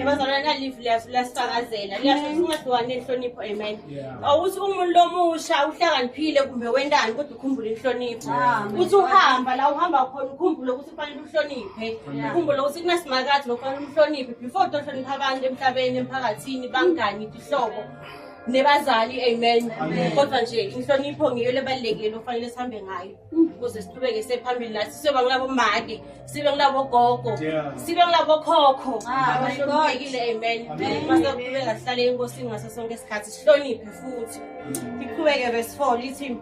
Ebazalwane nalive liyasho liyasifakazela liyasho ukuthi ungadliwani nenhlonipho amen awuthi umuntu lomusha uhlakaniphile kumbe wendani kodwa ukhumbule inhlonipho ukuthi uhamba la uhamba khona ukhumbule ukuthi kufanele uhloniphe ukhumbule ukuthi kunasimakathi lokufanele umhloniphe before utohlonipha abantu emhlabeni emphakathini bangani tihlobo nebazali amen kodwa nje inhlonipho ngiyo lebalulekile ofanele sihambe ngayo ukuze siqhubeke sephambili nathi siyoba ngilabo make sibe ngilabo gogo sibe ngilabo khokho ah, abahloniphekile amen masaqhubeka sihlale enkosini ngaso sonke isikhathi sihloniphe futhi iqhubeke verse four lithi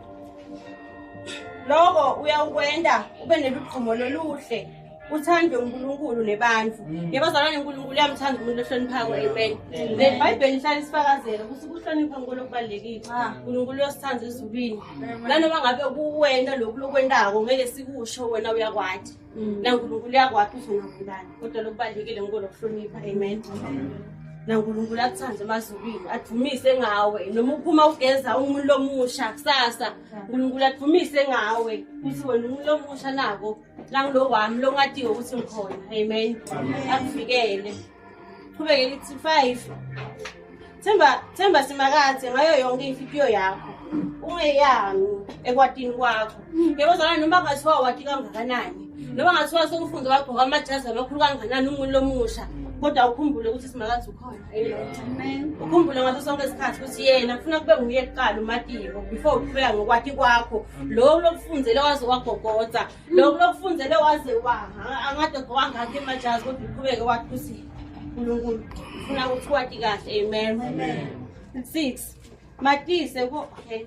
loko uyakwenda ube nelugqumo loluhle uthande uNkulunkulu nebantu mm. yebo zalwane uNkulunkulu uyamthanda umuntu ohloniphako amen nebhayibheli lihlale sifakazela ukuthi ukuhlonipha uNkulunkulu okubalulekile ah. uNkulunkulu uyosithanda ezulwini nanoma ngabe kuwena lokhu lokwentako ngeke sikusho wena uyakwati mm. nankulunkulu uyakwati uzongakulani kodwa lokubalulekile ngiko lokuhlonipha amen nankulunkulu akuthande emazulwini adumise ngawe noma uphuma ugeza umuntu omusha kusasa nkulunkulu adumise ngawe ukuthi wena umuntu omusha nako langilokwami longadiwe ukuthi ngikhona amen akuvikele qhubeke lithi five themba themba simakathe ngayo yonke imfipiyo yakho ungeyami ekwatini kwakho yebo zana noma ngathiwa wati kangakanani noma ngathiwa sekufunze wagqoka amajazi amakhulu kangakanani umuntu lomusha kodwa ukhumbule ukuthi simakazi ukhona ukhumbule ngaso sonke isikhathi ukuthi yena kufuna kube nguye kuqala umatiko before uqhubeka ngokwathi kwakho loku lokufundele waze wagogoda loku lokufundele waze waha angade wangakho emajazi kodwa uqhubeke wathi ukuthi unkulunkulu ufuna ukuthi wati kahle amen six matise ko okay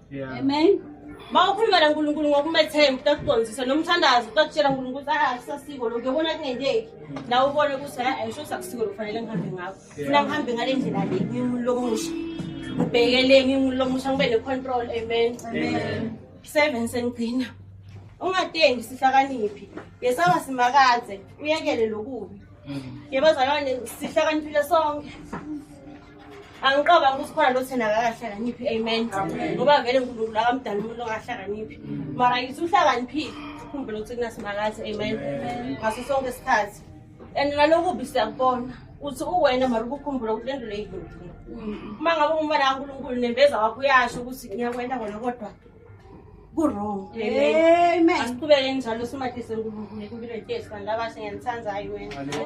Yeah. Amen. Uma ukhuluma naNkulunkulu ngokumethemba utakuqondisa noma uthandaza utakutshela uNkulunkulu ukuthi ah kusasiko lokho uyabona kungenzeki nawe ubone ukuthi hayi ayisho sakusiko lokufanele ngihambe ngakho funa ngihambe ngale ndlela le ngimuntu lomusha ngibhekele ngimuntu lomusha ngibe ne-control amen seven sengigcina ungatengi sihlakaniphi yesaba simakaze uyekele lokubi yebazalwane sihlakaniphile sonke angiqoka ukuthi khona lo thina akakahlakaniphi amen ngoba vele nkulunkulu akamdala umuntu ongahlakaniphi mara yithi uhlakaniphile khumbula ukuthi kunasimakathi amen ngaso sonke isikhathi and nalokubi siyakubona uthi uwena mara ubukhumbula ukuthi lento leyidlodile uma ngabe umfana kankulunkulu nembeza wakho uyasho ukuthi ngiyakwenta kona kodwa kurong amen asiqhubeke njalo simadise nkulunkulu ekubilwe jesu kanti abashe ngiyanithandayo wena